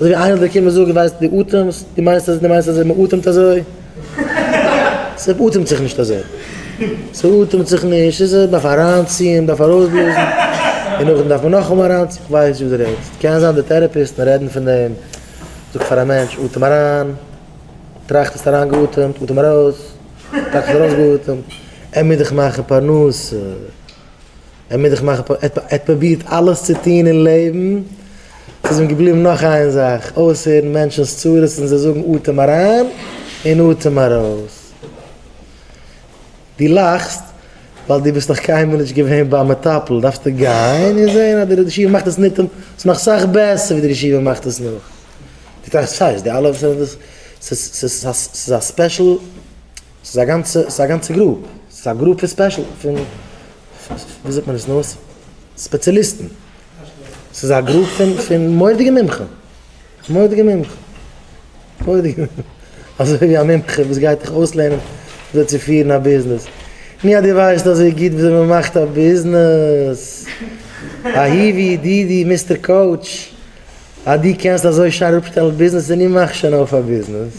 אזוי ווי איינער זאל קומען זאגן ווייסט דו אטעמסט, דו מיינסט אז דו מיינסט אזוי מען אטעמט אזוי, ס'אטעמט זיך נישט אזוי, ס'אטעמט זיך נישט, איז עס דארף אריינציען, דארף ארויסבלאזן, און נאכדעם דארף מען נאכאמאל אריינציען, איך ווייס נישט וואס דו רעדסט, קען זיין די טעראפיסטן רעדן פון דעם, זאג פאר א מענטש אטעם אריין, טראכט האסט אריינגעאטעמט, אטעם ארויס, טראכט האסט ארויסגעאטעמט, עמער דיך מאכן פרנסה. ער מוז זיך מאכן פאר, ער האט פרובירט אלעס צו טון אין לעבן, ס'איז אים געבליבן נאך איין זאך, אויסהערן מענטשנ'ס צרות און זיי זאגן אטעם אריין און אטעם ארויס. דו לאכסט ווייל דו ביסט נאך קיינמאל נישט געווען ביי א מטפל, דארפסטו גיין און זען אז דער רעדעשיווער מאכט עס ניטאמאל, ס'איז נאך סאך בעסער ווי דער רעדעשיווער מאכט עס נאך. דו טראכסט, סיי, ס'די אלע וואס זענען דאס, ס'איז א ספעשל ס'איז א גאנצע, ס'איז א גאנצע גרופ, ס'איז א גרופ פון ספעשל, פון, ווי זאגט מען עס נאר, ספעציליסטן, ס'איז א גרופ פון, פון מורא'דיגע מומחים, מורא'דיגע מומחים, מורא'דיגע מומחים, אזוי ווי א מומחה וואס גייט דיך אויסלערנען וויאזוי צו פירן א ביזנעס, מי אז דו ווייסט אזוי גוט וויאזוי מען מאכט א ביזנעס, א היווי דידי מיסטער קאוטש, אז דו קענסט אזוי שיין אראפשטעלן ביזנעסער, נו מאך שוין אויף א ביזנעס.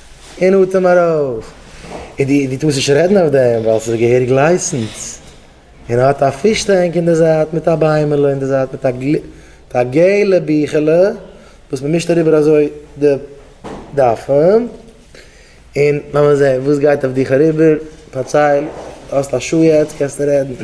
אין אטעם ארויס, און די ווי טוסט נישט רעדן אויף דעם ווייל ס'איז געהעריג לייסענס, און ער האט א פיש טענק אין די זייט מיט א ביימעלע אין די זייט מיט א געלע ביכעלע וואס מ'מישט אריבער אזוי די דפים, און לאמיר זעהן וואס גייט אויף דיך אריבער, פארצייל, האסט א שעה יעצט קענסטו רעדן.